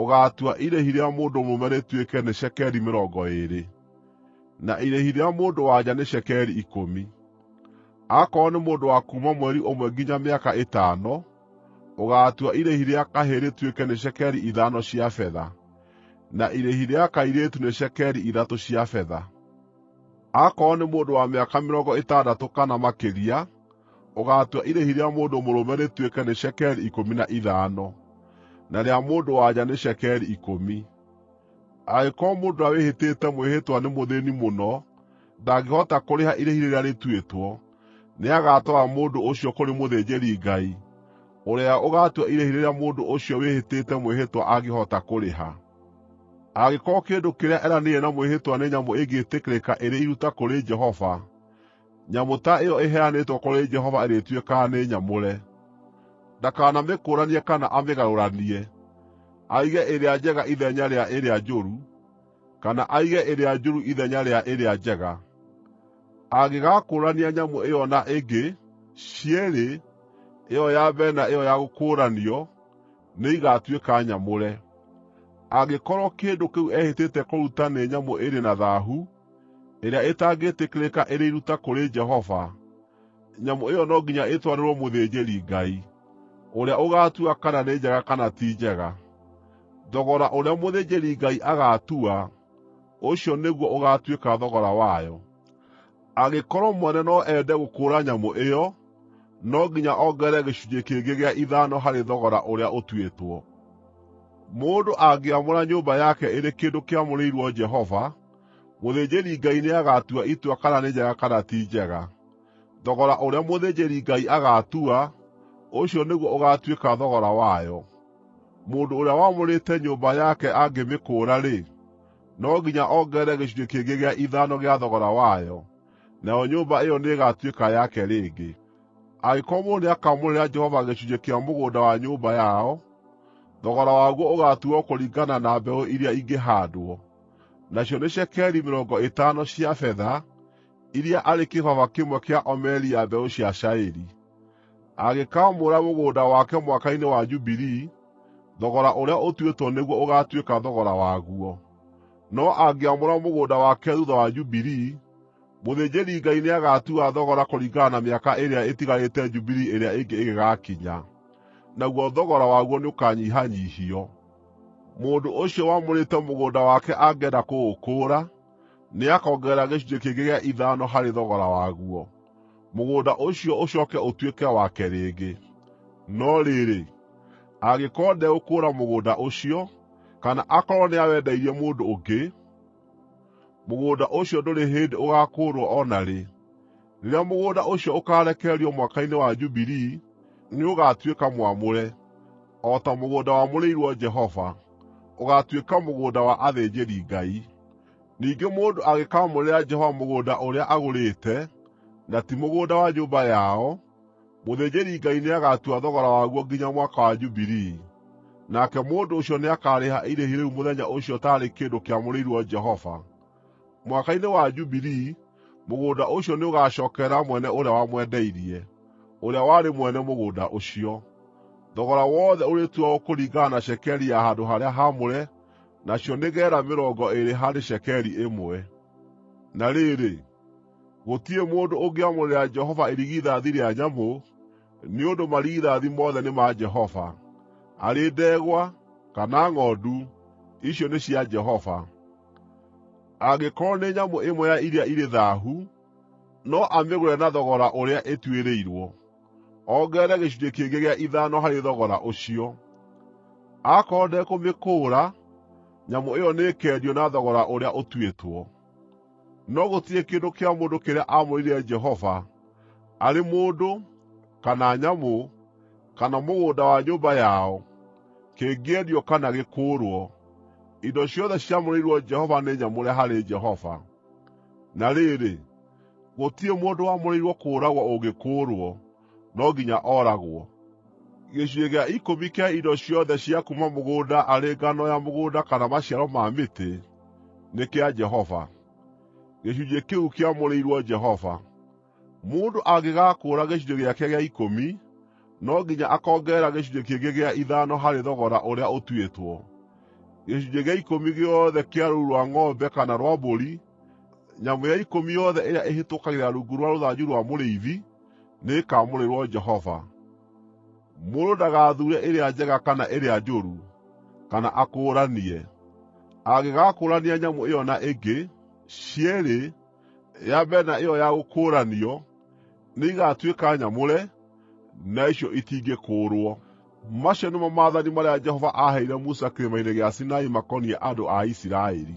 Ũgaatua irĩhi rĩa mũndũ mũrũme rĩtuĩke nĩ cekeri mĩrongo ĩĩrĩ, na irĩhi rĩa mũndũ-wa-nja nĩ cekeri ikũmi. Aakorwo nĩ mũndũ wa kuuma mweri ũmwe nginya mĩaka ĩtano, ũgaatua irĩhi rĩa kahĩĩ rĩtuĩke nĩ cekeri ithano cia betha, na irĩhi rĩa kairĩtu nĩ cekeri ithatũ cia betha. Aakorwo nĩ mũndũ wa mĩaka mĩrongo ĩtandatũ kana makĩria, Ũgaatua irĩhi rĩa mũndũ mũrũme rĩtuĩke nĩ cekeri ikũmi na ithano, na rĩa mũndũ-wa-nja nĩ cekeri ikũmi. Angĩkorwo mũndũ ũrĩa wĩhĩtĩte mwĩhĩtwa nĩ mũthĩĩni mũno ndangĩhota kũrĩha irĩhi rĩrĩa rĩtuĩtwo, nĩagatwara mũndũ ũcio kũrĩ mũthĩnjĩri-Ngai, ũrĩa ũgaatua irĩhi rĩrĩa mũndũ ũcio wĩhĩtĩte mwĩhĩtwa angĩhota kũrĩha. Angĩkorwo kĩndũ kĩrĩa eranĩire na mwĩhĩtwa nĩ nyamũ ĩngĩĩtĩkĩrĩka ĩrĩ iruta kũrĩ Jehova, Nyamũ ta ĩyo ĩheanĩtwo kũrĩ Jehova ĩrĩtuĩkaga nĩ nyamũre. Ndakanamĩkũũranie kana amĩgarũranie, aige ĩrĩa njega ithenya rĩa ĩrĩa njũru, kana aige ĩrĩa njũru ithenya rĩa ĩrĩa njega. Angĩgakũũrania nyamũ ĩyo na ĩngĩ, cierĩ, ĩyo ya mbere na ĩyo ya gũkũũranio, nĩigatuĩka nyamũre. Angĩkorwo kĩndũ kĩu ehĩtĩte kũruta nĩ nyamũ ĩrĩ na thaahu, ĩrĩa ĩtangĩĩtĩkĩrĩka ĩrĩ iruta kũrĩ Jehova, nyamũ ĩyo no nginya ĩtwarĩrwo mũthĩnjĩri-Ngai, ũrĩa ũgaatua kana nĩ njega kana ti njega. Thogora ũrĩa mũthĩnjĩri-Ngai agaatua, ũcio nĩguo ũgaatuĩka thogora wayo. Angĩkorwo mwene no ende gũkũũra nyamũ ĩyo, no nginya ongerere gĩcunjĩ kĩngĩ gĩa ithano harĩ thogora ũrĩa ũtuĩtwo. “Mũndũ angĩamũra nyũmba yake ĩrĩ kĩndũ kĩamũrĩirwo Jehova, Mũthĩnjĩri-Ngai nĩagatua itua kana nĩ njega kana ti njega. Thogora ũrĩa mũthĩnjĩri-Ngai agaatua, ũcio nĩguo ũgaatuĩka thogora wayo. Mũndũ ũrĩa wamũrĩte nyũmba yake angĩmĩkũũra-rĩ, no nginya ongerere gĩcunjĩ kĩngĩ gĩa ithano gĩa thogora wayo, nayo nyũmba ĩyo nĩĩgatuĩka yake rĩngĩ. Angĩkorwo mũndũ nĩakamũrĩra Jehova gĩcunjĩ kĩa mũgũnda wa nyũmba yao, thogora waguo ũgaatuuo kũringana na mbeũ iria ingĩhaandwo. nacio nĩ cekeri mĩrongo ĩtano cia betha, iria arĩ kĩbaba kĩmwe kĩa omeri ya mbeũ cia cairi. Angĩkaamũra mũgũnda wake mwaka-inĩ wa Jubilii, thogora ũrĩa ũtuĩtwo nĩguo ũgaatuĩka thogora waguo. No angĩamũra mũgũnda wake thuutha wa Jubilii, mũthĩnjĩri-Ngai nĩagatua thogora kũringana na mĩaka ĩrĩa ĩtigarĩte Jubilii ĩrĩa ĩngĩ ĩgĩgaakinya, naguo thogora waguo nĩũkanyihanyiihio. Mũndũ ũcio wamũrĩte mũgũnda wake angĩenda kũũkũũra, nĩakongerera gĩcunjĩ kĩngĩ gĩa ithano harĩ thogora waguo, mũgũnda ũcio ũcooke ũtuĩke wake rĩngĩ. No rĩrĩ, angĩkorwo ndegũkũũra mũgũnda ũcio, kana akorwo nĩawendeirie mũndũ ũngĩ, mũgũnda ũcio ndũrĩ hĩndĩ ũgaakũũrwo o na rĩ. Rĩrĩa mũgũnda ũcio ũkaarekererio mwaka-inĩ wa Jubilii, nĩũgatuĩka mwamũre, o ta mũgũnda wamũrĩirwo Jehova, ũgaatuĩka mũgũnda wa athĩnjĩri-Ngai. Ningĩ mũndũ angĩkaamũrĩra Jehova mũgũnda ũrĩa agũrĩte, na ti mũgũnda wa nyũmba yao, mũthĩnjĩri-Ngai nĩagatua thogora waguo nginya Mwaka wa Jubilii, nake mũndũ ũcio nĩakarĩha irĩhi rĩu mũthenya ũcio taarĩ kĩndũ kĩamũrĩirwo Jehova. Mwaka-inĩ wa Jubilii, mũgũnda ũcio nĩũgacookerera mwene ũrĩa wamwendeirie, ũrĩa warĩ mwene mũgũnda ũcio. Thogora wothe ũrĩtuagwo kũringana na cekeri ya handũ-harĩa-haamũre, nacio nĩ geera mĩrongo ĩĩrĩ harĩ cekeri ĩmwe. Na rĩrĩ, gũtirĩ mũndũ ũngĩamũrĩra Jehova irigithathi rĩa nyamũ, nĩ ũndũ marigithathi mothe nĩ ma Jehova, arĩ ndegwa kana ng'ondu, icio nĩ cia Jehova. Angĩkorwo nĩ nyamũ ĩmwe ya iria irĩ thaahu, no amĩgũre na thogora ũrĩa ĩtuĩrĩirwo, ongerere gĩcunjĩ kĩngĩ gĩa ithano harĩ thogora ũcio. Aakorwo ndekũmĩkũũra, nyamũ ĩyo nĩĩkendio na thogora ũrĩa ũtuĩtwo. No gũtirĩ kĩndũ kĩa mũndũ kĩrĩa aamũrĩire Jehova, arĩ mũndũ, kana nyamũ, kana mũgũnda wa nyũmba yao, kĩngĩendio kana gĩkũũrwo, indo ciothe ciamũrĩirwo Jehova nĩ nyamũre harĩ Jehova. Na rĩrĩ, gũtirĩ mũndũ wamũrĩirwo kũũragwo ũngĩkũũrwo, no nginya ooragwo. Gĩcunjĩ gĩa ikũmi kĩa indo ciothe cia kuuma mũgũnda arĩ ngano ya mũgũnda kana maciaro ma mĩtĩ, nĩ kĩa Jehova. Gĩcunjĩ kĩu kĩamũrĩirwo Jehova. Mũndũ angĩgaakũũra gĩcunjĩ gĩake gĩa ikũmi, no nginya akongerera gĩcunjĩ kĩngĩ gĩa ithano harĩ thogora ũrĩa ũtuĩtwo. Gĩcunjĩ gĩa ikũmi gĩothe kĩa rũũru rwa ng'ombe kana rwa mbũri, nyamũ ya ikũmi yothe ĩrĩa ĩhĩtũkagĩra rungu rwa rũthanju rwa mũrĩithi, nĩĩkamũrĩrwo Jehova. Mũndũ ndagathuure ĩrĩa njega kana ĩrĩa njũru, kana akũũranie. Angĩgaakũũrania nyamũ ĩyo na ĩngĩ, cierĩ nĩikamũrĩrwo. ya mbere na ĩyo ya gũkũũranio nĩigatuĩka nyamũre, na icio itingĩkũũrwo. Macio nĩmo maathani marĩa Jehova aaheire Musa kĩrĩma-inĩ gĩa Sinai makoniĩ andũ a Isiraeli.